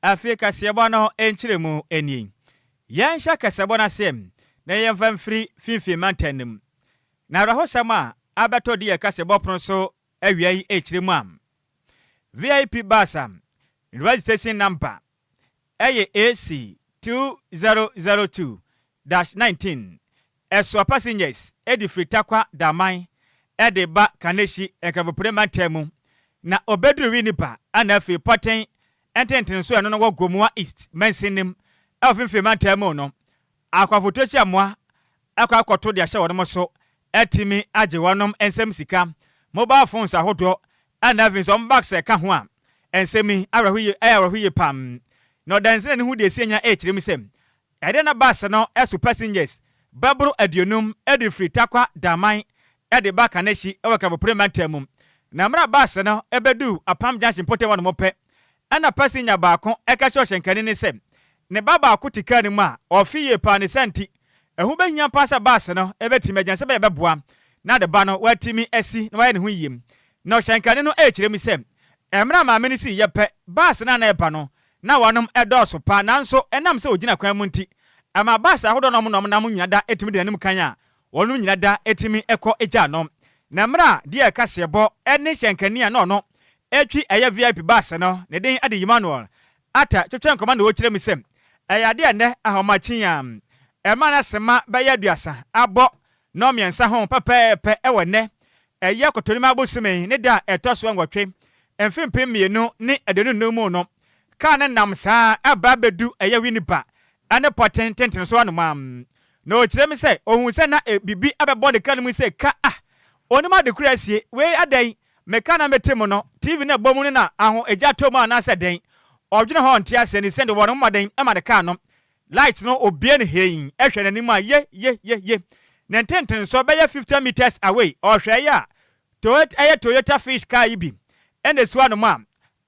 Afei kaseɛbɔ no nkyerɛmu nie, Yɛnhyɛ kaseɛbɔ no aseɛ na yɛmfa mfiri finfin mantam no mu. Na awerɛhosɛm a abɛtɔ de yɛ kaseɛbɔ pono so awia yi rekyerɛ mu a, VIP bus a ne registration number yɛ AC2002-19 Ɛsoa passengers de firi Tarkwa Daman de ba Kaneshie Nkrabopire mantam mu na ɔbɛduru Winneba na afei Pɔten ntentene so a ɛno no wɔ Gomoa East mansin no mu wɔ Finfin mantam mu no. Akwafotuo hyɛ mmoa kɔ akɔto de ahyɛ wɔnom so atumi agye wɔnom nsam sika, mobile phones ahodoɔ na afei nso wɔn bags ka ho a nsam yi awerɛhoyie ɛyɛ awerɛhoyie paa na ɔdansena no ho deɛ ɛsi anya ɛrekyerɛ mu sɛ Ɛde ne bus no so passengers bɛboro aduonum de firi Tarkwa Daman de ba Kaneshie wɔ Kapopre mantam mu. Na mmerɛ a bus no bɛduu Apam Junction mpɔtam hɔ nom pɛ na passenger baako ka kyerɛɛ ɔhyɛnkani no sɛ ne ba baako te car no mu a ɔfe yie paa ne saa nti ɛho bɛhia paa sɛ bus no bɛtumi agyan sɛbɛyɛ bɛboa na ne ba no watumi asi na wayɛ ne ho yie. Na ɔhyɛnkani no kyerɛ mu sɛ mmerɛ a maame no siiɛ pɛ bus no a na ɛreba no Na wɔnom dɔɔso paa, nanso ɛnam sɛ wɔgyina kwan mu nti, ɛma bus ahodoɔ na wɔnom nam nyina da tumi di n'anim kan a, wɔnom nyina da tumi kɔ gyaa no. Na mmerɛ a deɛ kaseɛbɔ ne hyɛnkani a na ɔno twi ɛyɛ VIP bus no, ne din de Emmanuel Atta twetwee nkɔmmɔ na ɔkyerɛɛ mu sɛ, ɛyɛ adeɛ a ɛnnɛ ahomakyen a ɛma no asema bɛyɛ aduasa abɔ nnɔnmiɛnsa ho pɛpɛɛpɛ wɔ nnɛ Ɛyɛ Kotonima bosome ne da a ɛtɔ so nwɔtwe, mfe mpem mmienu ne aduonu nnum mu no. Kar no nam saa ara ba bedu ɛyɛ Winneba ne Pɔten tenten so anomaa. Na ɔkyerɛ mu sɛ ɔhuu sɛ na biribi abɛbɔ ne kar no mu sɛ ka a! Onim ade koro asie. Wei adɛn? Me kar no a mete mu no, TV no a ɛbɔ mu no na aho gya tɔ mu anaasɛ dɛn? Ɔdwene ho a ɔnte aseɛ ne sɛdeɛ wɔn mmɔden ma ne kar no Light no obue no hee hwɛ n'anim a ye ye ye ye ne ntentenso bɛyɛ fifty metres away ɔhwɛɛe a Toyot ɛyɛ Toyota Fish car yi bi na esi w'anom a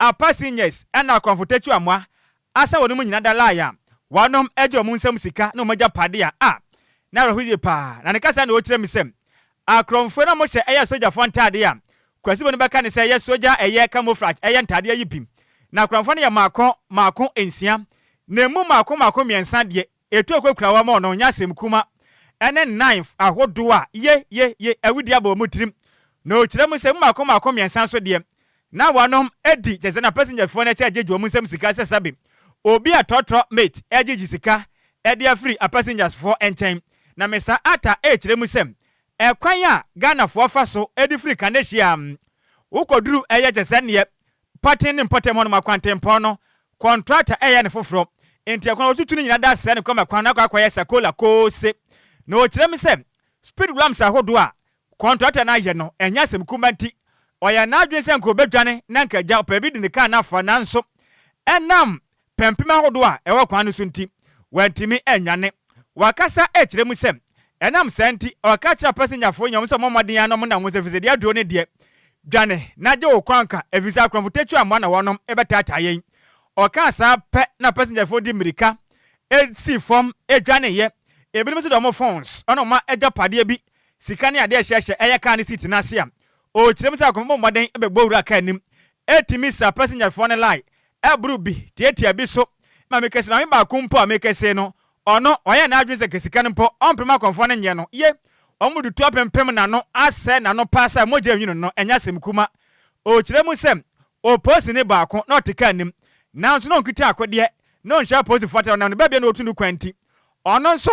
a passengers ɛna akɔmfo tatu amoa asɛ wɔnom nyina da lie a wɔnom ɛgye wɔn nsam sika ne wɔn agyapade a a n'awerɛho ye paa na ne kasa na ɔkyerɛ me sɛ Akorɔmfoɔ no a wɔhyɛ ɛyɛ sogyafoɔ ntaadeɛ a Kurasibo no bɛka ne sɛ ɛyɛ sogya a ɛyɛ camouflage ɛyɛ ntaadeɛ yi bi. Na akorɔmfoɔ no yɛ mmaako mmaako nsia, na ɛmu mmaako mmaako mmiɛnsa deɛ ɛtuo kɔkura wɔn a wɔnyɛ asɛmkuma ɛne knife ahodoɔ a ye ye ye awudie abɔ wɔn tirim. Na ɔkyerɛ mu sɛ ɛmu mmaako mmaako mmiɛnsa nso deɛ Na wɔnom di kyɛsɛ na passengerfoɔ no kyɛ gye gye wɔn nsam sika sɛ sɛbe obi a trɔtrɔ mate ɛgye gye sika ɛde afiri apassengers foɔ nkyɛn. Na me sa ata ɛkyerɛ mu sɛ ɛkwan a Ghanafoɔ fa so ɛde firi Kanehyia wo kɔ duru ɛyɛ kyɛsɛ neɛ Pɔten ne Mpɔtam hɔ nom akwantempɔn no kɔntrata ɛyɛ no foforɔ nti ɛkwan a wɔtutu no nyina da sɛɛ no kɔma kwan no akɔ akɔ yɛ sakola kose. Na ɔkyerɛ mu sɛ speed ramps ahodoɔ a Kɔntrata no ayɛ no, ɛnyɛ asɛm kumaa nti. Ɔyɛɛ n'adwene sɛ anka obedwane na anka agya ɔpɛ bi de ne kar no afa, nanso ɛnam pampim ahodoɔ a ɛwɔ kwan no so nti, wantumi annwane. Wakasa akyerɛ mu sɛ, ɛnam saa nti, ɔka kyerɛɛ apasenjafoɔ nyinaa wɔn sɛ wɔmmɔ mmɔden ara na wɔnna wɔn sɛ fisɛdi aduo no deɛ, dwane na gye wo kwan ka, ɛfiri sɛ akorɔmfo tatuo amoa na wɔnom rebɛtaataa yɛn. Ɔkaa saa pɛ na apasenjafoɔ de mmirika sii fam dwaneeɛ. Ebinom nso de wɔn phones ne wɔn agyapadeɛ bi Sika ne ade a ɛhyɛ hyɛ ɛyɛ kaa no seat no ase a, ɔrekyerɛ mu sɛ akɔmfo bɔ mmɔden bɛbɔ wura kaa anim, ɛtumi sa passengerfoɔ no line, ɛboro bi, tiatia bi so. Ma me kɛse, maame baako mpo a me kɛse no, ɔno, wayɛ n'adwene sɛ nka sika no mpo ɔmpem akɔmfoɔ no nyɛ no ye, wɔn dutu apempem n'ano, asɛe n'ano paa sɛ mogya nwunu no, ɛnyɛ asɛm kuma. Ɔrekyerɛ mu sɛ, ɔwɔ polisini baako na ɔte kaa anim, nanso na ɔnkita akodeɛ, na ɔnhyɛ apolisifoɔ atade, ɔnam ne babea na ɔretu no kwan nti, ɔno nso,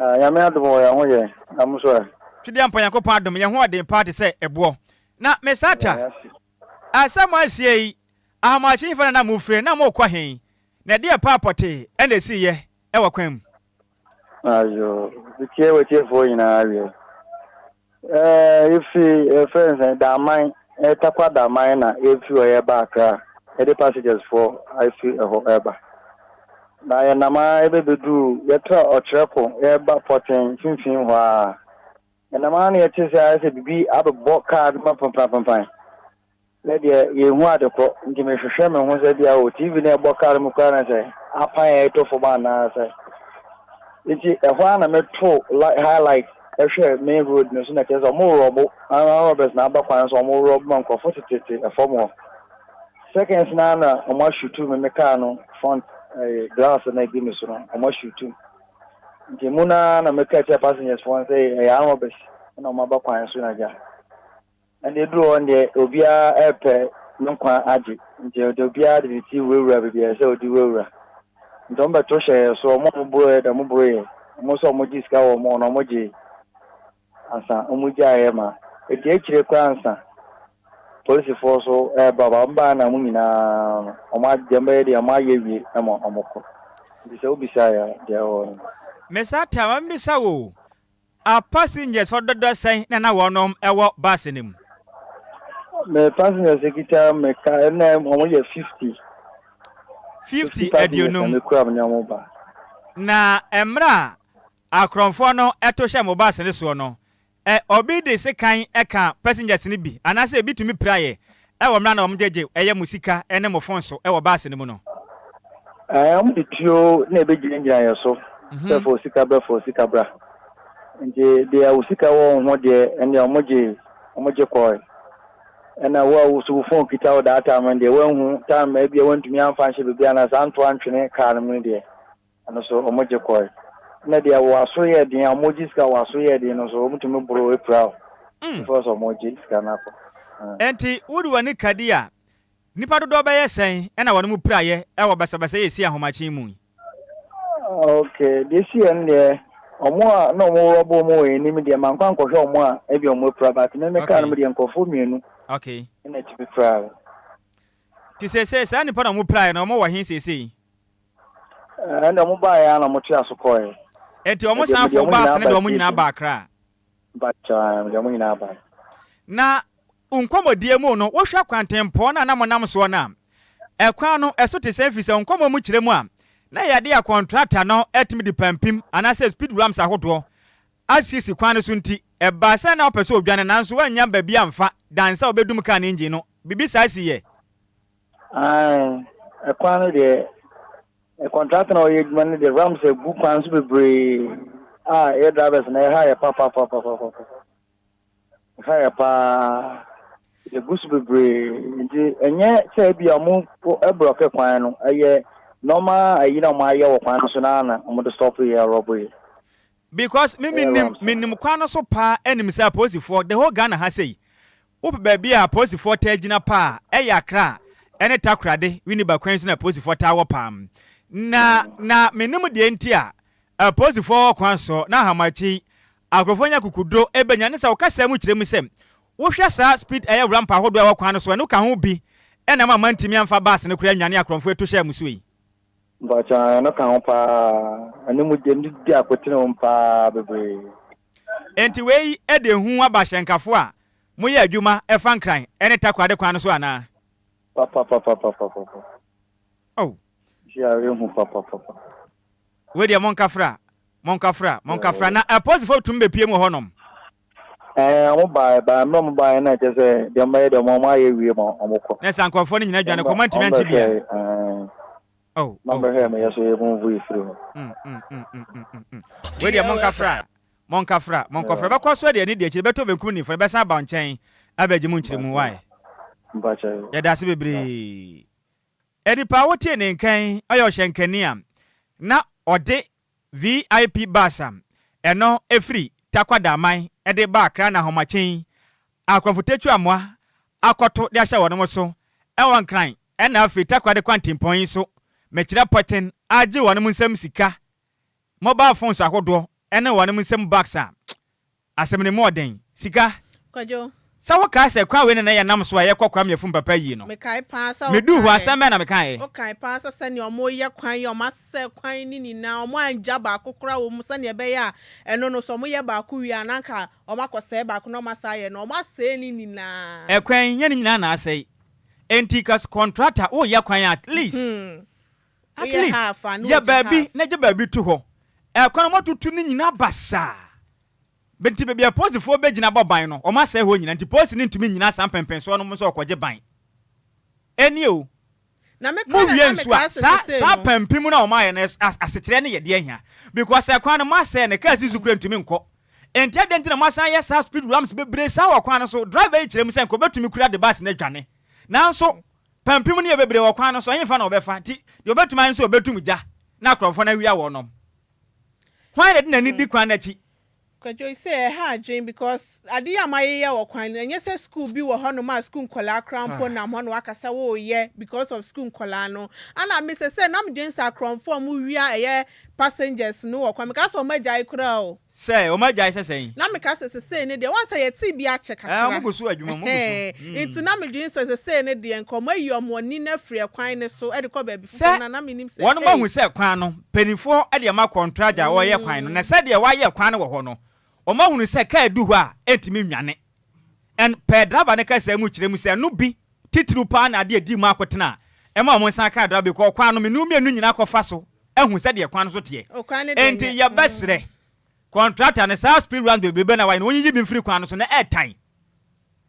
Ah Nyame adom o yɛn ho yɛ na mo nso ɛ? Twedeampa Nyankopɔn adom yɛn ho ɔden paa te sɛ ɛboɔ na me sata ah sɛ mo asie yi Ahomakye hefa na na mo refire na morekɔ he na ɛdeɛ paa pɔtee ɛna ɛsiiyɛ ɛwɔ kwan mu. Ayoo, metie w'atiefoɔ nyinaa awie. Yɛfi yɛfrɛ no sɛn Daman, Tarkwa Daman na yɛfi hɔ yɛreba Accra, yɛde passengers foɔ afi ɛhɔ ɛreba. Na yɛnam ara yɛbɛbɛduru, yɛtra Ɔkyerɛko yɛreba Pɔten mfimfini hɔ ara. Yɛnam ara na yɛte sɛ ayɛ sɛ biribi abɛbɔ car no ma pampanpampan. Me deɛ yɛnhu ade kɔ nti mehwehwɛ me ho sɛ bia o TV no a ɛbɔ car no mu koraa na sɛ apan a ɛtɔ fam anaa sɛ nti ɛhɔ ara na meto highlight ɛhwɛ main road no so na kyerɛ sɛ ɔmo rɔbo ara robbers na aba kwan so ɔmo rɔbo ma nkorɔfo tetete ɛfam hɔ seconds na na ɔmo ashutu me me car no front ɛɛ glass na edi me so no ɔmo ashutu nti mu na na meka kyerɛ passengers fo sɛ ɛyɛ robbers na ɔmo aba kwan so na gya. Ɛnde eduru hɔ no deɛ, obiara repɛ ne nkwa agye, nti ɔde obiara de ne ti wurawura baabi a ɛsɛ sɛ ɔde wurawura. Nti wɔbɛto hyɛɛ yɛn so, wɔn a wɔboroeɛ deɛ wɔboroeɛ, wɔn nso a wɔgyee sika wɔ wɔn hɔ no wɔgyee, ansa wɔgyaeɛ ma ɛdi akyire koraa ansa polisifoɔ nso reba, ba wɔbaeɛ na wɔn nyinaa no, wɔn deɛ wɔbɛyɛ deɛ wɔayɛ awie ma wɔkɔ, nti sɛ wobisa a, deɛ ɛwɔ hɔ no. Mesa Tah, ma memmisa wo o, A Passengers fo dodoɔ sɛn na na wɔnom wɔ bus no mu? Me passengers kita me ka na wɔn yɛ fifty. Fifty aduonum. Fifty passengers na me kura me ne wɔn ba. Na mmerɛ a akorɔmfoɔ no to hyɛ mo bus no soɔ no, ɛ, obi de sekan ka passengers no bi, anaasɛ ebi tumi pira yɛ, Ɛwɔ mmra na wɔn gye gye ɛyɛ mo sika ɛne mo fon so ɛwɔ bus no mu no. Ɛɛ wɔn de tuo na ɛbɛ gyina gyina yɛ so sɛ fa osika bɛ fa osika bra nti deɛ osika wɔ wɔn ho deɛ ɛndeɛ wɔn gye wɔn gye kɔɛ ɛna wo a woso wo fon kita wo data no deɛ wɔn ahu time ɛbi a wɔn ntumi anfa nhyɛ bebi anaa saa nto antwene car no mu no deɛ. Ɛno nso wɔgye kɔe. Ɛna deɛ wɔn aso yɛ den a wɔgye sika a wɔn aso yɛ den no nso, wɔtumi boro apira o, because wɔgye sika no akɔ. Enti wode w'ani ka di a, nnipa dodoɔ bɛyɛ sɛn na wɔnom piraeɛ wɔ basabasa yi a ɛsii ahomakye yi mu yi? Okay, deɛ ɛsiiɛ no deɛ, wɔn a na wɔn rɔba wɔn wɔ yɛn anim deɛ, mankɔ ankɔhwɛ wɔn a ebia wɔapira, but me mekaa no mu deɛ, nkurɔfoɔ mmienu na ɛtumi piraeɛ. Nti seesei saa nnipa no a wɔpiraeɛ no, wɔwɔ he seesei? Ɛnna wɔbaeɛ ara na wɔtoaa so kɔeɛ. Enti wɔn Ɛdeɛ, mede sanfoɔ wɔn baa nyinaa ase ne baa deɛ wɔn nyinaa Station. baa Accra. Mpakyɛ, mede wɔn nyinaa baa. Na nkɔmmɔdie mu no, wohwɛ kwantempɔn no a na monam soɔ no a, ɛkwan no, ɛso te sɛn? Ɛfiri sɛ nkɔmmɔ mu kyerɛ mu a, na yɛde yɛn kɔntrata no atumi de pampim anaasɛ speed ramps ahodoɔ asiesie kwan no so nti, ɛbaa sɛ na wopɛ sɛ wodwane nanso woannya baabi amfa dan sɛ wobɛdum kaa no engine no. Biribi saa siiɛ. Ae, kwan no deɛ contractor na ɔyɛ adwuma no deɛ ramps agu kwan so bebree a yɛ drivers na ɛha yɛ papapapapapa ɛha yɛ paa yɛgu so bebree nti ɛnyɛ sɛ ebi a wɔn blɔke kwan no ɛyɛ nɔɔma ayi na wɔn ayɛ wɔ kwan no so na na wɔn de stop yɛ rɔbo yɛ. because me menim menim kwan no so paa ɛnim sɛ apolisifoɔ the whole Ghana ha sɛ yi. Wopɛ baabi a apolisifoɔ taa gyina pa a, ɛyɛ Accra ne Takoradi, Winneba kwan so na apolisifoɔ taa wɔ paa. Na na mennim deɛ nti a apolisifoɔ wɔ kwan so na Ahamakyi akorɔfoɔ nya kukudo bɛnya ne sɛ wo kasa mu kyerɛ mu sɛ wohwɛ saa speed ɛyɛ wura mpa ahodoɔ a ɛwɔ kwan no so a ɛno ka ho bi na ama mantumi amfa bus no koraa nnwane akorɔmfoɔ atu hyɛɛ mo so yi. Mpakyɛw, ɛno ka ho paa. Ɛno mu gyem di akotene wom paa bebree. Enti wei de ehu aba ahyɛnkafo a moyɛ adwuma fa Nkran ne Takoradi kwan no so anaa? Papapapapapapa. Oh. Biara ehu papapapa. Wei deɛ monkafra, monkafra, monkafra. Na apolisifo tumi bepie mu wɔ hɔnom? Ɛɛ, wɔn baeɛ, baeɛ, mmerɛ wɔn baeɛ na ɛkyɛ sɛ deɛ wɔn bɛyɛ deɛ wɔn ayɛ awie ma wɔn kɔ. Na sɛ ankorɔfoɔ no nyinaa dwane kɔ, moantumi ankyɛ biara? Ɛɛ. na ɔbɛhwɛɛ me yɛ so yɛ move yi firi hɔ. Wei deɛ monka fra, monka fra, monkɔ fra. Bɛkɔ so deɛ ne deɛ akyire bɛtɔ benkum ni fɔre bɛsan aba nkyɛn abɛgye mo nkyerɛ mu why? Yɛda ase bebree. Nipa a wotie ne nka yi ɔyɛ ɔhyɛnkani a na ɔde VIP bus a ɛno firi Takwadaman de ba Accra na ahomakyen yi Akramfo Tetua mmoa akɔto de ahyɛ wɔnom so wɔ Nkran na afei Takwa de Kwantempɔn yi nso mekyerɛ pɔten agye wɔnom nsam sika, mobile phones ahodoɔ ne wɔnom nsam bags a Asɛm no mu ɔden. Sika. Kwadwo. Sɛ wo kae sɛ kwan wei na na yɛ nam so a yɛ kɔ Kwame Afum Papa ayie no. Me kae paa sɛ wo kae. Me duu hɔ asɛm bɛn na me kaeɛ. Wo kae paa sɛ sɛnea ɔmo yɛ kwan yi ɔmo asɛsɛ kwan no nyinaa ɔmo angya baako koraa wɔ mu sɛnea ɛbɛyɛ a ɛno no sɛ ɔmo yɛ baako wie a na anka ɔmo akɔ sɛɛ baako na ɔmo asan ayɛ no ɔmo asɛɛ ne nyinaa. Ɛkwan nyɛ ne nyinaa na asɛe. Ɛnti kas kɔntrata wo yɛ kwan a at least. At least, yɛ baabi na gye baabi to hɔ. Ɛkwan a wɔatutu no nyinaa basaa. Bɛ nti baabi a polisifoɔ bɛgyina bɔ ban no, wɔasɛe hɔ nyinaa nti polisi no ntumi nnyina saa mpɛnpɛnsoɔ no mu sɛ ɔrekɔgye ban. Ɛnnie o. Mowie nso a, saa saa pampim no a wɔayɛ no asekyerɛ ne yɛ deɛ hia? Because ɛkwan no moasɛe no, cars nso kura ntumi nkɔ. Ɛnti adɛn nti na moasan ayɛ saa speed ramps bebree saa wɔ kwan no so? Driver yi kyerɛ mu sɛ nka ɔbɛtumi kura de bus no adwane. Nanso Pampim no yɛ bebree wɔ kwan no so, ɛhefa na wɔbɛfa, nti deɛ wɔbɛtum ayɛ ne sɛ wɔbɛtum gya na akorɔmfoɔ no awia wɔn nom. Hwan na ɛde n'ani di kwan no akyi? Kwadwo, You say ɛha adwene because ade yi a moayeyɛ wɔ kwan no, ɛnyɛ sɛ sukuu bi wɔ hɔnom a sukuu nkwadaa koraa mpo nam hɔ na wɔaka sɛ woreyɛ because of sukuu nkwadaa no. Ana me sɛsɛɛ na medwene sɛ akorɔmfoɔ a wɔwia ɛyɛ passengers no wɔ kwan, mekaa sɛ wɔagyae koraa o. Sɛ, wɔn agyae sɛ sɛn? Na meka sɛ, Sesei no deɛ, woahu sɛ yɛtee bi akyɛ kakra. Ɛɛ, wɔgu so, adwuma mu, wɔgu so. Ɛhɛɛ, enti na medwene sɛ sesei no deɛ, anka wɔayi wɔn ani no afiri ɛkwan no so de kɔ baabi foforɔ no a, na mennim sɛ, Sɛ wɔahu ei. sɛ kwan no, mpaninfoɔ de ama kɔntragya a ɔreyɛ kwan no, na sɛdeɛ wɔayɛ kwan no wɔ hɔ no, wɔahunu sɛ kaa du hɔ a, ɛntumi nnwane. Ɛn, pɛɛ draba no kasaa mu kyerɛ mu sɛ ɛno bi, titiriw paa na ade a edii mu akotena a ɛma wɔsan kaa draba bi kɔɔ kwan no menu mmienu nyinaa kɔfa so ahu sɛdeɛ kwan no so teɛ. Enti yɛbɛsrɛ kɔntrakta no, saa speed ramps bebrebe no a wɔayɛ no, wɔnyiyi bi mfiri kwan no so, na ɛretan,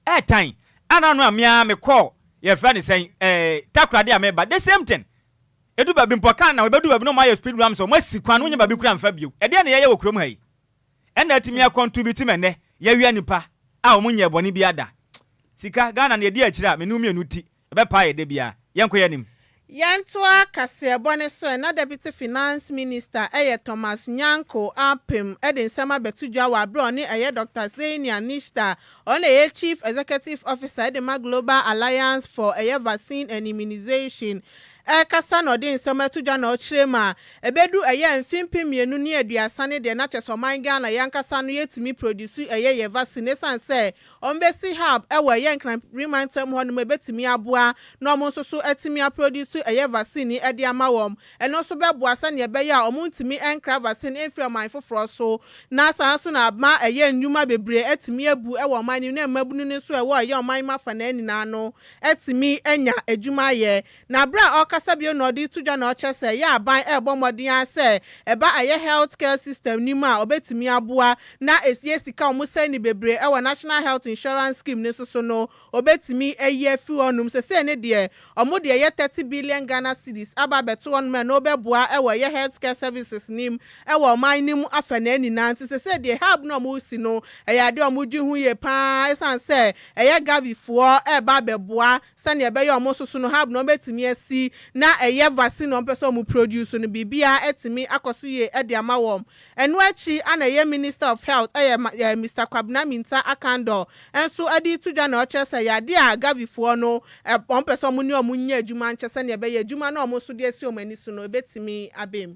ɛretan. Ana ano a me ara mekɔɔ, yɛfrɛ no sɛn, ɛɛ, Takoradi a mereba, the same thing. Edu baabi mpo, car no na wɔbɛdu baabi na wɔayɛ speed ramps, wɔasi kwan no, wonnya baabi koraa mfa bio. Ɛdeɛn na yɛyɛ wɔ kurom ha yi? ɛna atumi a contribute ma ɛnɛ yɛwia nipa a wɔn nyɛɛ bɔne biaa da sika Ghana no yɛdi akyire a me ne wo mienu ti ɛbɛpaa yɛ da biaa yɛnkɔ yɛ nim. Yɛntoa kaseɛbɔ no so ɛna Deputy Finance Minister ɛyɛ Thomas Nyanko apem de nsɛm abɛto dwa wɔ aberɛ a ɔne ɛyɛ Doctor Senia Nishta ɔno na ɛyɛ Chief Executive Officer de ma Global Alliance for ɛyɛ Vaccine and Immunization ɛrekasa na ɔde nsɛm ato dwa na ɔkyerɛ mu a, ɛbɛdu ɛyɛ mfe mpem mmienu ne aduasa ne deɛ na kyerɛ sɛ ɔman Ghana yɛn ankasa no yɛtumi produce ɛyɛ yɛn vaccine ɛsiane sɛ wɔbɛsi hub ɛwɔ ɛyɛ Nkranpri mantam hɔ nom ɛbɛtumi aboa na wɔn nso so atumi aproduce ɛyɛ vaccine yi ɛde ama wɔn. Ɛno nso bɛboa sɛdeɛ ɛbɛyɛ a wɔn ntumi nkra vaccine mfiri ɔman foforɔ so na saa nso na ama ɛyɛ nnwuma bebree atumi abu ɛwɔ ɔman no mu na mmabunu no nso ɛwɔ ɛyɛ ɔman yi mu afanaa nyinaa no atumi anya adwuma ayɛ. Na bere a ɔrekasa bio na ɔde reto dwa na ɔkyerɛ sɛ ɛyɛ aban rebɔ mmɔden ara sɛ ɛba ɛyɛ health care system no mu a obetumi aboa na esie sika a wɔsɛe no bebree wɔ National Health Insurance Scheme no nso so no obetumi ayi afi hɔnom. Sesei no deɛ wɔde ɛyɛ thirty billion Ghana cedis aba abɛto hɔnom a ɛno bɛboa wɔ ɛyɛ health care services no mu wɔ ɔman no mu afanaa nyinaa nti sesei deɛ hub no a wɔresi no ɛyɛ adeɛ a wɔdwen ho yie pa ara esiane sɛ ɛyɛ Gavifoɔ reba abɛboa sɛdeɛ ɛbɛyɛ a wɔn soso no hub no wɔbɛtumi asi na ɛyɛ vaccine a wɔpɛ sɛ wɔn produce no biribiara atumi akɔ so yie de ama wɔn. Ɛno akyi ana ɛyɛ Minister of Health ɛyɛ ɛɛ Mister Kwabena Mintah Akandoh nso de reto dwa na ɔkyerɛ sɛ ɛyɛ adeɛ a Gavifoɔ no wɔpɛ sɛ wɔn ne wɔn nyɛ adwuma nkyɛ sɛdeɛ ɛbɛyɛ adwuma no a wɔn nso de asi wɔn ani so no ɛbɛtumi aba mu.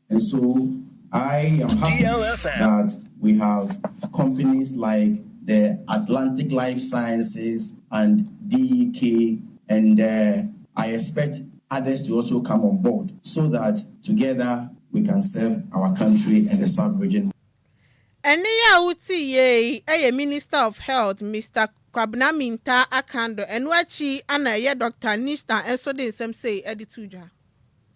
And so I am happy that we have companies like the Atlantic Life Sciences and DEK and uh, I expect others to also come on board so that together we can serve our country and the South region. Ɛnne yi a wote yei yɛ Minister of Health Mister Kwabena Mintah Akando, ɛno akyi na ɛyɛ Doctor Nishtan nso de nsɛm sei de too dwa.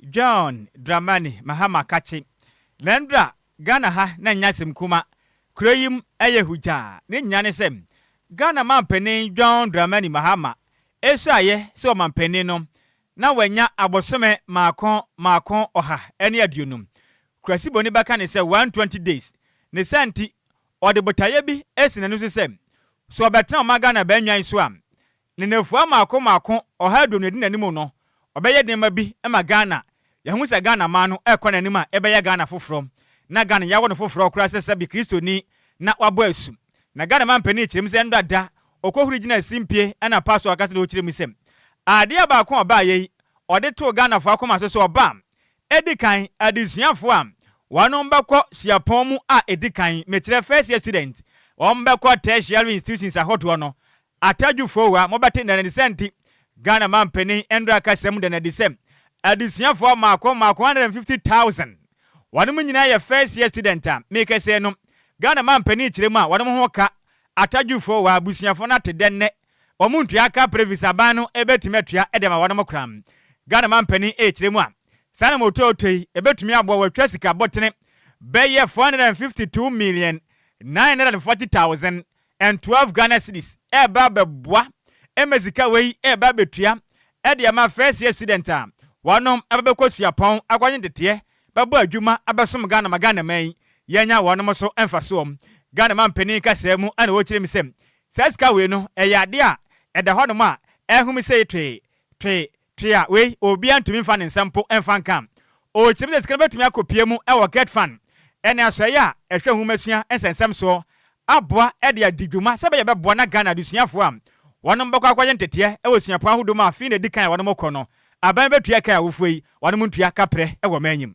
John Dramani Mahama Kakye, Lɛndra, Ghana ha na nnya asɛm kuma, kuro yi mu ɛyɛ hugyaa, ne nyinaa ne sɛ Ghana manpanin John Dramani Mahama ɛsuaeɛ sɛ ɔmanpanin no na wanya abosome maako maako ɔha ne aduonum, Kurasiboni bɛka ne sɛ 120 days, ne saa nti ɔde botaeɛ bi asi n'ani so sɛ sɛ ɔbɛtena ɔman Ghana bɛnnwan so a Ne nnafua mmaako mmaako ɔha aduonu a ɛdi n'anim no, ɔbɛyɛ nneɛma bi ma Ghana. Yɛahu sɛ Ghana man no rekɔ n'anim a yɛbɛyɛ Ghana foforɔ. Na Ghana yɛawɔ no foforɔ koraa sɛ sɛbe Kristoni na wabɔ asu. Na Ghana manpanin kyerɛ mu sɛ ɛnnora da ɔkɔhuri gyinaa simpie ɛna pa so ankasa na ɔkyerɛ mu sɛ adeɛ baako a ɔbaeɛ yi ɔde too Ghanafoɔ akoma so sɛ ɔba a ɛdi kan adesuafoɔ a wɔnom bɛkɔ suapɔn mu a ɛdi kan, mekyerɛ first year students, wɔnom bɛkɔ tertiary institutions ahodoɔ no Atadwufoɔ a mobɛte nnɛ no ne sɛ nti Ghana manpanin mmra kasa mu da no adi sɛ adesuafoɔ mmaako mmaako 150,000 wɔnom nyinaa yɛ first year student a mekasɛi no Ghana manpanin kyerɛ mu a wɔnom ho ka Atadwufoɔ a abusuafoɔ no ate dɛ nnɛ wɔn ntua ka Previs aban no bɛtumi atua de ama wɔnom koraa Ghana manpanin rekyerɛ mu a saa na motoɔtɔ yi ɛbɛtumi aboa wɔatwa sika botene bɛyɛ 452 million 940 thousand and twelve Ghana cedis ɛreba abɛboa ɛma sika wei ɛreba abɛtua ɛde ama first year student a wɔnom ɛba bɛkɔ suapɔn akɔnye deteɛ bɛbɔ adwuma abɛsom Ghana ma Ghana man yi yɛnya wɔnom so mfasoɔ. Ghana manpanin kasaa mu ɛna wɔkyerɛ mu sɛ saa sika wei no ɛyɛ adeɛ a ɛda hɔnom a ɛhome sei twee, twee, Tua wei, obiara ntumi mfa ne nsa mpo mfa nka. Ɔrekyerɛ mu sɛ sika no bɛtumi akɔpue mu wɔ GetFund ne asoɛeɛ a ɛhwɛ nhomasua nsɛnsɛm soɔ aboa de adi dwuma sɛdeɛ ɛbɛboa na Ghana adesuafoɔ a wɔnom bɛkɔ akɔyɛ nteteɛ wɔ suapɔn ahodoɔ mu a fee na ɛdi kan a wɔnom rekɔ no aban bɛtua ɛka a wofuo yi wɔnom ntua kaprɛ wɔ maanyim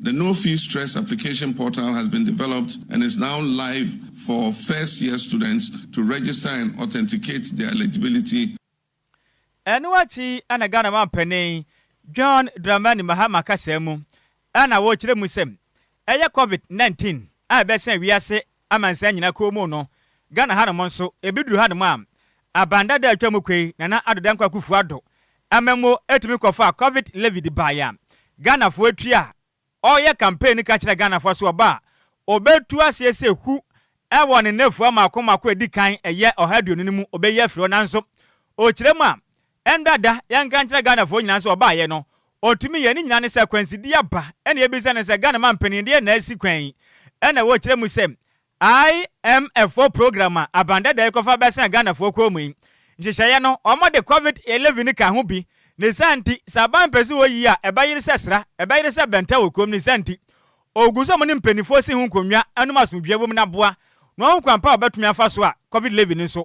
The No Fee Stress Application Portal has been developed and is now live for first year students to register and authenticate their eligibility. Ɛno akyi na Ghana Mampanin John Dramani Mahama kasaa mu na ɔkyerɛɛ mu sɛ ɛyɛ Covid nineteen a ɛbɛhyɛn wiase amansan nyina kɔɔmu no, Ghana hanom nso, ebi duru hanom a, aban dada a atwa mu kɔ yi, Nana Addo Dankwa Akuffo Addo, amammuo ɛtumi kɔfaa Covid levy de baeɛ a, Ghanafoɔ atua a, ɔreyɛ campaign no ka kyerɛɛ Ghanafoɔ sɛ ɔba a, ɔbɛtu aseɛ sɛ hu ɛwɔ ne nnafua mmaako mmaako a ɛdi kan ɛyɛ ɔha aduonu no mu ɔbɛyi afiri hɔ nanso, ɔkyerɛ mu a, Ɛnda da yɛnka nkyerɛ Ghanafoɔ nyinaa sɛ ɔbaayɛ no ɔtumi yɛ ne nyinaa ne sɛ akwansideɛ aba ɛna yɛbisa no sɛ Ghana mampanin deɛ na asi kwan yi ɛna wɔkyerɛ mu sɛ IMF foɔ program a aban dada yi kɔfa bɛsɛn Ghanafoɔ kɔn mu yi nhyehyɛeɛ no wɔn de covid 11 ka ho bi ne saa nti sɛ aban pɛ sɛ ɔyi a ɛbɛyere sɛ sra ɛbɛyere sɛ bɛnta wɔ kurom ne saa nti ɔgu sɛ wɔn ne mpaninfoɔ si ho nkonnwa ɛnom asomdwoeɛ wɔ mu na boa wɔn kwan pa a wɔbɛtumi afa so a covid 11 nso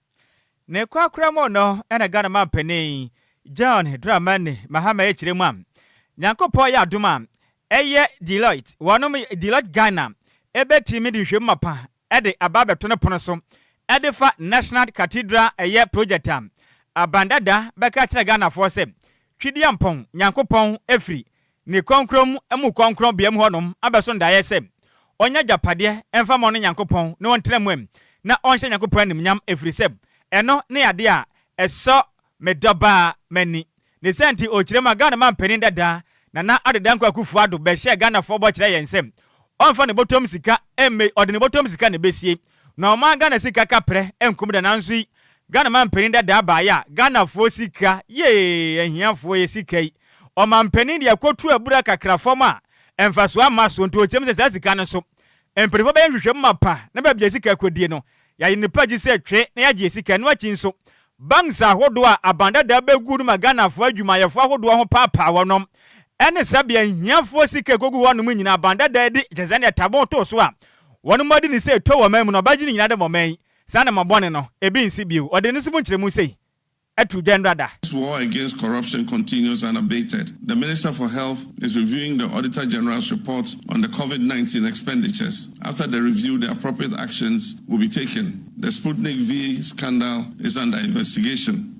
Ne korakora mu no na Ghana manpanin John Dramani Mahama ɛkyerɛ mu a Nyankopɔn ayɛ adom a ɛyɛ Deloitte, wɔnom Deloitte Ghana ɛbɛtumi de nhwɛmu mapa de aba abɛto ne pono so de fa National Cathedral ɛyɛ project a Abandada bɛka akyerɛ Ghanafoɔ sɛ Twedeampɔn Nyankopɔn ɛfiri Ne krɔnkrɔn mu mu krɔnkrɔnbea mu hɔnom abɛso ndaeɛ sɛ ɔnyɛ agyapadeɛ mfa ma ɔno Nyankopɔn na ɔntena mu ɛ na ɔnhyɛ Nyankopɔn animuonyam ɛfiri sɛ ɛno ne yadeɛ a ɛsɔ me dɔbaa m'ani ne saa nti ɔkyirem a Ghana manpanin dada Nana Addo Dankwa Akuffo Addo bɛhyɛɛ Ghanafoɔ bɔ kyerɛɛ yɛn sɛ ɔmfa ne bɔtɔm sika mmei ɔde ne bɔtɔm sika na ɛbɛsie Na ɔmaa Ghana sika kaprɛ nkum da nanso yi Ghana manpanin dadaa baeɛ a Ghanafoɔ sika yee ahiafoɔ yɛ sika yi ɔmanpanin de akɔtu abura kakra fam a mfasoɔ amma so nti ɔkyerɛm sɛ saa sika no so mpaninfoɔ bɛyɛ nhwehwɛmu mapa na baabi a sika kɔdie no yɛayɛ no pa gye sɛ twe na yɛagye yɛ sika ɛno akyi nso banks ahodoɔ a aban dadaa bɛgu no ma Ghanafoɔ adwumayɛfoɔ ahodoɔ ho paapaa wɔnom ɛne sɛbea ahiafoɔ sika kɔgu hɔnom nyinaa aban dadaa di kyɛ sɛdeɛ tabon too so a Wɔn mu ɔde ne sei to wɔn man mu na ɔbɛgye ne nyinaa dɛ ma ɔman yi, saa na ma bɔne no, ebi nsi bio. Ɔde ne nso mu nkyerɛmu sei to dwa nnora da. As war against corruption continues unabated, the Minister for Health is reviewing the Auditor General's report on the Covid nineteen expenditures. After the review, the appropriate actions will be taken. The Sputnik V scandal is under investigation.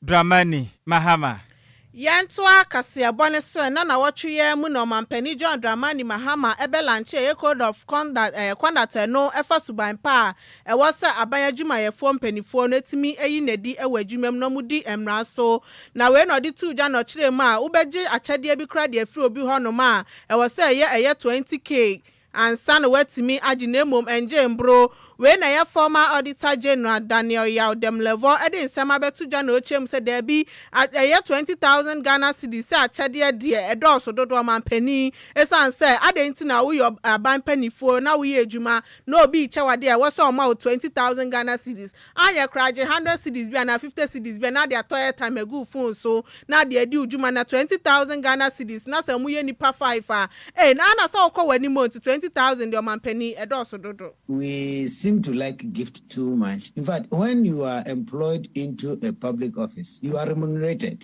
Dramani Mahama. Yɛntoa kaseɛbɔ no so ɛ. Nnɛ nnawɔtwe yi ara mu na Ɔmampanin John Dramani Mahama bɛlankyee yɛn Code of Conduct no ɛfa suban pa a ɛwɔ sɛ aban adwumayɛfoɔ mpaninfoɔ no tumi yi no adi wɔ adwuma mu na wɔdi mmara so. Na wei na ɔde too dwa na ɔkyerɛɛ mu a wobɛgye akyɛdeɛ bi koraa de afiri obi hɔnom a ɛwɔ sɛ ɛyɛ ɛyɛ 20 kg ansa na watumi agye na mmom ɛngyee mboro. Wei na ɛyɛ Former Auditor General Daniel Yaw Demlevor de nsɛm abɛto dwa na ɔkyerɛ mu sɛ daabi, ɛyɛ twenty thousand Ghana cedis sɛ akyɛdeɛ deɛ ɛdɔɔso dodo ɔmanpanin ɛsiane sɛ adɛn nti na woyɛ aban panifoɔ na woyɛ adwuma na obi rekyɛ wo adeɛ a ɛwɔ sɛ ɔma wo twenty thousand Ghana cedis Anyɛ koraa gye hundred cedis bi anaa fifty cedis bi na de atɔ airtime agu phone so na de adi wo dwuma na twenty thousand Ghana cedis na sɛ moyɛ nnipa five a ei na na sɛ wokɔ w'anim o nti twenty thousand deɛ ɔmampanin ɛdɔɔso dodo. We seem to like gift too much, in fact when you are employed into a public office you are remunerated.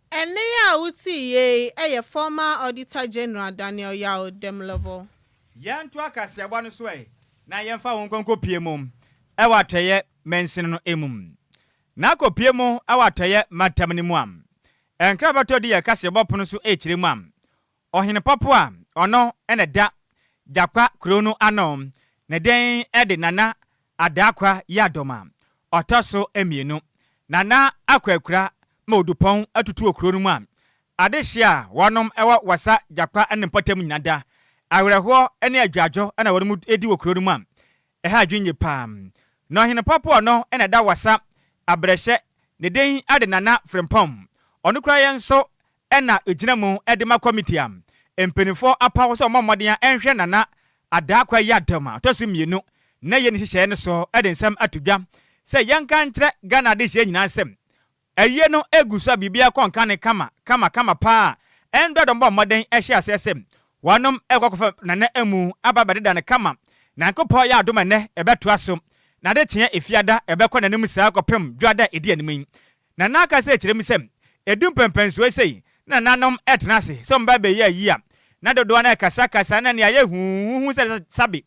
Ɛnne yi a wotii yei yɛ Former Auditor General Daniel Yaw Demlevo. Yɛntoa kaseɛbɔ no so ɛ, na yɛmfa wo nkɔnkɔpue mu wɔ atɔeɛ mansini no mu. Na kɔpue mu wɔ atɔeɛ mantam no mu a nkrabɛtɔ di yɛn kaseɛbɔ pono so kyerɛ mu a Ɔhene pɔpo a ɔno na ɛda Gyakwa kurow no ano ne den de Nana Adaakwa Yiadom a ɔtɔ so mmienu. Nana Akwaakura ma odupɔn tutu wɔ kurow no mu a adehye a wɔnom wɔ Wasa Gyakwa ne mpɔtam nyina da. Awerɛhoɔ ne adwadwo na wɔnom di wɔ kurow no mu a ɛha adwene yie paa. Na ɔhene pɔpo a ɔno na ɛda Wasa abrɛhyɛ ne den de Nana Frempɔn. Ɔno koraa yɛ nso na egyina mu de ma kɔmiti a mpanyinfoɔ apaw sɛ wɔmmɔ mmɔden a ɛnhwɛ Nana Adaa Kuayadom a ɔtɔ so mmienu nnɛ yɛ ne nhyehyɛeɛ no so de nsɛm ato dwa sɛ yɛnka nkyerɛ Ghana adehyeɛ nyinaa sɛ ayie no egu so a biribiara kɔ nkane kama kama kama paa a ɛndɔ dɔm bɔ mmɔden hyɛ aseɛ sɛ wɔnom ɛkɔ akɔfa Nana amu aba abɛdeda no kama Nyankopɔn yɛ adom a ɛnnɛ ɛbɛtoa so na adekyeɛ Efiada ɛbɛkɔ n'anim saa kɔpem Dwoada a ɛdi anim yi Na n'ankasa ɛkyerɛ mu sɛ ɛdu mpɛnpɛnsoɔ sei na nananom retena ase sɛ wɔbɛba abɛyɛ ayi a na dodoɔ no ara rekasakasa na nea ayɛ huuhuuhu sɛ Sabi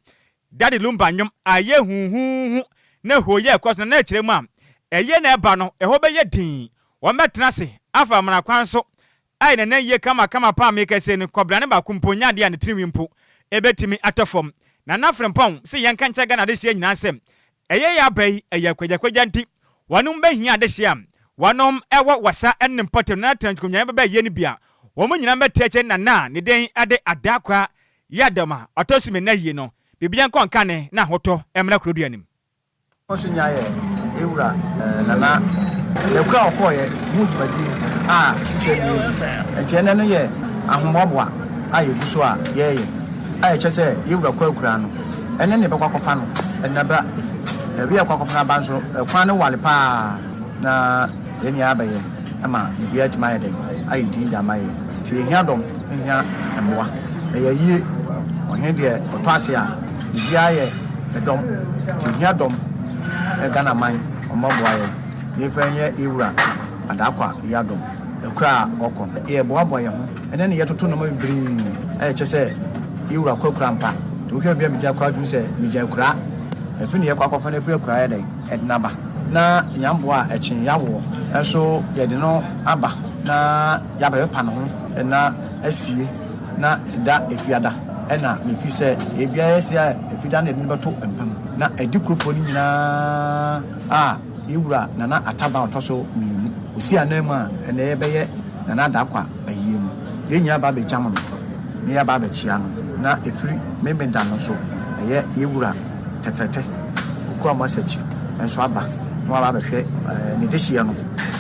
Dade Lumba nnwom a ɛyɛ huuhuuhu na hooyɛ rekɔ so no na ɛkyerɛ mu a ɛyɛ na ɛba no ɛhɔ bɛyɛ dinn wɔbɛtena ase afa amena kwan so Ai na na ye kama kama paa mekɛse no kɔbra no baako mpo nyɛ adeɛ a ne tirinwi mpo ɛbɛtumi atɔ fam Nana Frimpong se yɛnka nkyerɛ Ghana adehyeɛ nyinaa sɛ ɛyɛ yɛ aba yi ɛyɛ kwagyakwagya nti wɔnom bɛhia adehyeɛ a wɔnom ɛwɔ wasa ne mpɔtam Nana Trench Konyan bɛba ayie no bi a wɔn nyinaa mbɛte akyire Nana ne den ɛde Adaa Kwaa yɛ adɛm a ɔtɔ so mmienu ayie no biribiara nkɔ nka ne na ahotɔ mmra Kuroduanim. Ɔkɔ so nyaa yɛ Ewura Nana Daku a ɔkɔɔeɛ ho dwumadie a sisɛ nie yi. Enti ɛnnɛ no yɛ ahoboaboa a yɛgu so a yɛreyɛ a ɛkyɛ sɛ yɛ Wura kɔ akura no. Ɛnnɛ na yɛbɛkɔ akɔfa no, ɛnna ba yi. Baabi a yɛkɔ akɔfa no aba nso, kwan no ware pa ara na. Yɛn nyinaa bɛyɛ ma biribiara atumi ayɛ dɛn? Ayɛ dinn de ama yɛn. Nti yɛhia dɔm, yɛhia mmoa. Ɛyɛ ayie. Ɔhene deɛ ɔtɔ ase a, biribiara yɛ ɛdɔm. Nti yɛhia dɔm. Ghana man, ɔmma boa yɛn na yɛmfa nyɛ yɛn wura Adaakwa yi adɔm. Akura a ɔkɔ no, yɛboaboa yɛn ho ne no yɛtoto nnoɔma bebree a ɛkyɛ sɛ yɛn wura kɔ akura ampa. Nti wohwɛ baabi a megya kɔ a, wotumi sɛ megya akuraa. Ɛfi ne yɛkɔ akɔfa no afiri akuraa yɛ dɛn? Ɛdena ba na nya mboa a ɛkyen yawoɔ nso yɛde no aba na yaba bɛpa ne ho na asie na ɛda Efiada ɛna mepi sɛ ɛbia yɛsi a Efida na yɛde no bɛto mpa mu na adi kurofoɔ no nyinaa a yɛwura Nana Ataban ɔtɔso mmienu ɔsi anan mu a ɛnɛ yɛbɛyɛ Nana Adakwa ayie no yɛn nyinaa ba bɛgyam no na yɛaba abɛkyea no na ɛfiri Memeda no nso ɛyɛ yɛwura tɛtrɛtɛ. Ɔkua Masakyi nso aba na waba abɛhwɛ ne dehyeɛ no.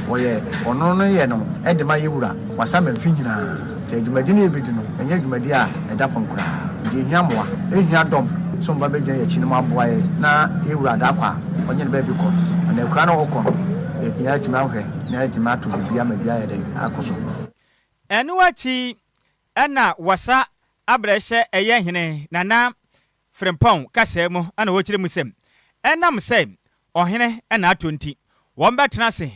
Wɔyɛ ɔno no yɛ no de ma yɛn Wura Wasamma mfe nyinaa. Nti dwumadi no a yɛbɛdi no, ɛnyɛ dwumadi a ɛda fam koraa. Nti yɛhia mmoa, yɛhia dɔm sɛ wɔba bɛgyina yɛn akyi na wɔaboa yɛn na yɛn Wura Daakɔ a ɔnyɛ ne baabi kɔ anaa akuraa no a ɔkɔ no, yɛatumi atumi ahwɛ na yɛatumi atɔ biribi ama biribi ayɛ dɛn? Akɔ so. Ɛno akyi na wɔsa abrɛhyɛ ɛyɛ Hene Nana Frimpong kasaa mu na ɔkyerɛ mu sɛ, Ɛnam sɛ ɔhene na atɔ nti, wɔbɛtena ase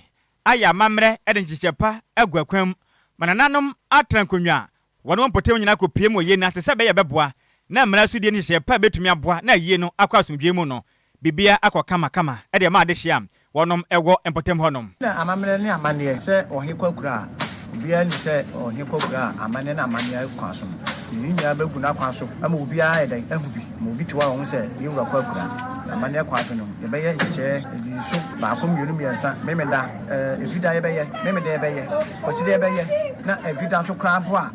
ayɛ amammerɛ de nhyehyɛɛ pa agu akwan mu ma nananom atena nkonnwa a wɔne wɔn mpɔtam nyinaa kɔpuem wɔ yei no ase sɛ ɛbɛyɛ a ɛbɛboa na mmara so die nhyehyɛɛ pa a ɛbɛtumi aboa na ayie no akɔ asomdwoeɛ mu no Biribiara akɔ kama kama de ama adehyeɛ a wɔnom wɔ mpɔtam hɔ nom. Na amammerɛ ne amanneɛ sɛ ɔhe kɔ akura a, obiara nim sɛ ɔhe kɔ akura a amanneɛ ne amanneɛ kwan so no, yei nyinaa bɛgu n'akwan so ama obiara ayɛ dɛn? ahu bi. Ma obi te hɔ a ɔhu sɛ yɛn wura kɔ akura. Na amanneɛ kwan so no, yɛbɛyɛ nhyehyɛɛ adi nso, baako, mmienu, mmiɛnsa, Memeda, eh, Ɛdwida yɛbɛyɛ, Memeda yɛbɛyɛ, Kwasida yɛbɛyɛ, na Ɛdwida nso koraa mpo a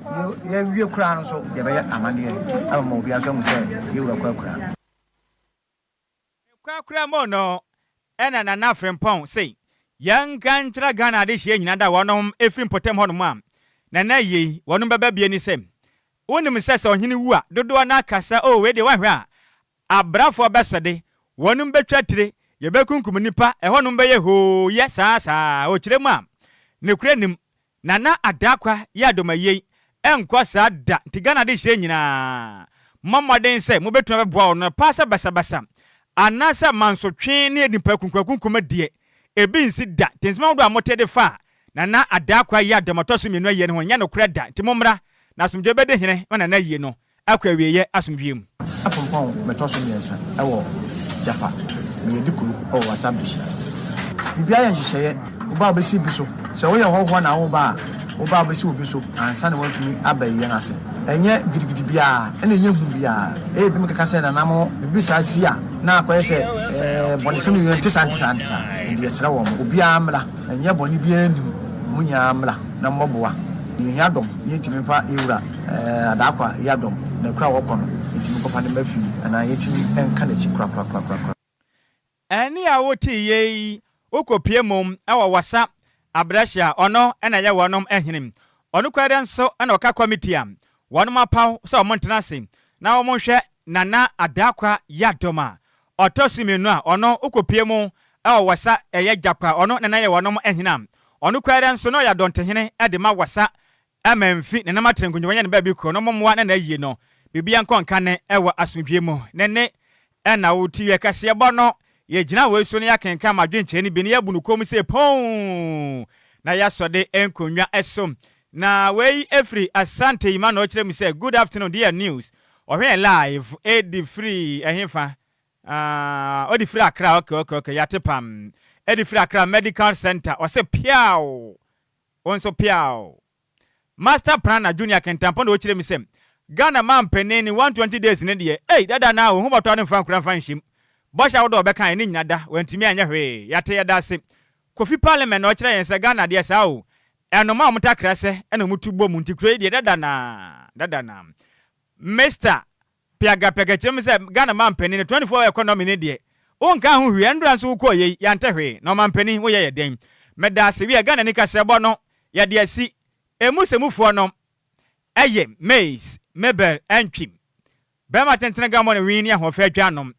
yɛawie koraa no nso, yɛbɛyɛ amanneɛ ama obiara nso ahu sɛ yɛn wura kɔ akura. Nokwar koraa mu no, nna Nana Frimpong se, Yɛnka nkyerɛ Ghana adehyeɛ nyina da wɔnom efiri mpɔtam hɔnom a, Nana ye, wɔnom bɛba bie ne se, Wonim sɛ sɛ ɔhene wu a, dodoɔ no ara ka sɛ, Oh, wei deɛ woanhwɛ a, abrafoɔ bɛsɔde, wɔnom bɛtwa tire, yɛbɛkunkum nnipa, ɛhɔnom bɛyɛ hoo, yɛ saa, saa. Ɔkyerɛ mu a, nokorɛ nnim, Nana Adakwa yɛ adomayei ɛnkɔ saa da nti Ghana adehyeɛ nyinaa mɔ mmɔden sɛ mobɛtumi abɛboa wɔn no paa sɛ basabasa anaa sɛ mansotwe ne nnipakunkumakunkum deɛ ɛbi nsi da nti nsɛm ahodoɔ a mote de fa Nana Adakwa yɛ adom ɔtɔ so mmienu ayie no ho nyɛ nokorɛ da nti mommra na asomdwoeɛ bɛdi hene ma Nana ayie no akɔ awieeɛ asomdwoeɛ mu. Afonpɔn bɛtɔ so mmiɛnsa wɔ Jaffa na yɛadi kuro wɔ Whatsapp de hyia. Biribiara yɛ nhyehyɛeɛ, wo ba bɛsi bi so, sɛ woyɛ hɔhoɔ na wo ba a, wo ba bɛsi wo bi so ansa na watumi aba yɛn ase. Ɛnyɛ gidigidi biara na ɛnyɛ hu biara, ɛyɛ binom keka sɛ nana mo biribi saa si a na akɔyɛ sɛ bɔnesɛm no yɛ, ɛnte saa, ɛnte saa, ɛnte saa, ɛnde yɛsrɛ wɔn obiara mmra, ɛnyɛ bɔne biara nnim, mo nyinaa mmra. na mmɔboa na yɛhia dɔm na yɛntumi mfa yɛwura Adaakwa Yah dɔm na kuro a wɔkɔ no yɛntumi nkɔfa no mma fie anaa yɛntumi nka n'akyi korakorakorakorakora. Ɛnne a wotee yɛ yi wokɔpue mu wɔ Wassa Abrɛhye a ɔno na yɛ wɔnom hene. Ɔnokwɛrɛ nso na ɔka kɔmiti a wɔnom apaw sɛ wɔntena ase na wɔnhwɛ Nana Adaakwa Yah dɔm a Ɔtɔ so mienu a ɔno okopue mu wɔ Wɔsa yɛ Gyakwa, ɔno na na yɛ wɔnom hene a ɔno koraa dɛ nso na ɔyɛ Adɔnte hene de ma Wɔsa ma mfi ne nam atere nkongyawanya ne baabi koro no mo mmoa na na ayie no biribiara nkɔ nka ne wɔ asomdwie mu ne ne na wo ti wiɛ kɛseɛ bɔ no yɛ gyina wei so na yɛ akenkan ma adwenkyerɛ no bi na yɛ abu no kɔn mu sei pon na yɛ asɔ de nkonnwa so na wei firi Asante Emmanuel ɔkyerɛ mu sɛ Good afternoon dear news Ɔhwɛɛ live ɛde firi ɛhefa aah ɔde firi Accra ok ok ok yɛate pam ɛde firi Accra medical centre ɔse piaw wo nso piaw Master Prana Junior Kintampo na ɔkyerɛ me sɛ Ghana manpanin ne 120 days no deɛ ei dada naa wo ho bɔtɔ no mfa nkura mfa nhyem bɔhyɛ ahodoɔ a ɔbɛkaeɛ ne nyina da wantumi anyɛ hwee yɛate yɛda ase Kofi parliament na ɔkyerɛ yɛn sɛ Ghana deɛ saa o, ɛnomaa wɔn takra sɛ ɛna wɔn tu bɔ mu nti kuro yi deɛ dada na dada na Mister piagapiaga kyerɛ mu sɛ Ghana manpanin no 24 hour economy no deɛ wo nkaa ho hwee ɛndura nso wo kɔɔ yɛ yi yɛantɛ hwee na ɔmanpanin wo yɛ yɛ dɛn meda ase wiɛ Ghanani kasɛɛbɔ no yɛde asi emu sɛ mufoɔ nom ɛyɛ maize mebel ɛntwim Bɛrima tentene gammɔ ne wii ne ahoɔfɛ adwanom,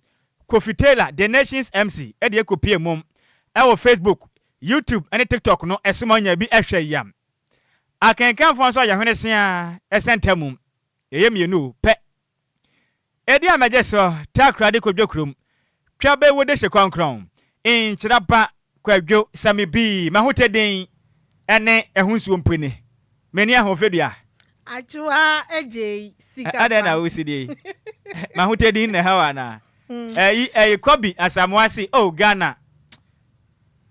Kofi Taylor de Nations MC de ɛkɔpue mmom wɔ Facebook, YouTube ne TikTok no so ma ɔnya bi hwɛ yam. Akenkanfoɔ nso ayɛ hwene se ara sɛ nta mum. Yɛyɛ mmienu o, pɛ. Edi a mɛgye so, takoradi kɔdwo kurom, Twa bɛ wo dehye krɔnkrɔn. Nhyira ba kwadwo sɛ me bi M'ahotɛ den ɛne ɛho nsuo mpo ni M'ani aho fedua. Akyewa agyei sika pa. Adɛn na wosi die yi M'ahotɛ din na ɛhaw anaa Ɛyi ɛyi Kobi Asamoah se oh Ghana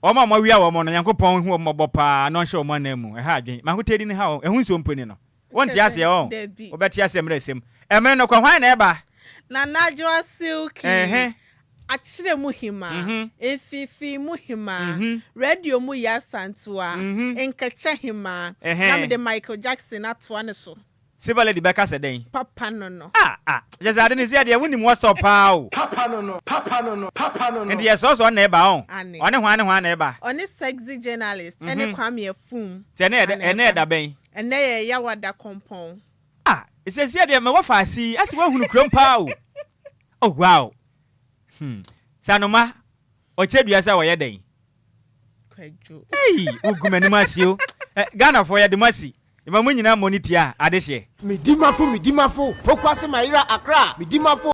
Wɔn a wɔawia wɔn no Nyankopɔn nhu wɔn mmɔbɔ paa na ɔnhyɛ wɔn ananmu Ɛha adwen M'ahotɛ din haw Ɛho nsuo mpo ni no. Wonte aseɛ ɔɔ Dabi. wobɛte aseɛ mmerɛ sɛm Ɛmene no kɔ hwan na ɛba? Nana Adwoa Silky, Ɛɛhɛ. Akyerɛ mu hima, Mhm. Mfifii mu hima, Mhm. Radio mu Yaa Santua, Mhm. Nkɛkyɛ hima, Ɛhɛɛ. na mede Michael Jackson atoa no so. Silver Lady bɛka sɛ dɛn? Papa no no. Ah ah kyɛ sɛ ade no sie deɛ wonim wɔsɔ paa o. Papa no no, papa no no, papa no no. Nti yɛsrɛ wo sɛ ɔno na ɛba ɔɔ Ane. Ɔne hwan ne hwan na ɛba? Ɔne Sexy Journalist ɛne Mhm. Kwame Afum Sɛ ɛnɛ yɛ dɛ, na ɛnɛ yɛ ɛba. da bɛn? Ɛnnɛ yɛ Yawa da kɔmpɔn. Ah sɛsiɛ deɛ mɛwɔ faase yi ase wahunu kurom paa o oh wow hmm sanoma ɔkyɛ dua sɛ ɔyɛ dɛn Kwadwo. ei wo gu m'anim ase o eh Ghana foɔ yɛde mo asi yɛma mo nyinaa mmɔ ne tia adehyeɛ. Medi mafo medi mafo Pokuase Mayera Accra medi mafo.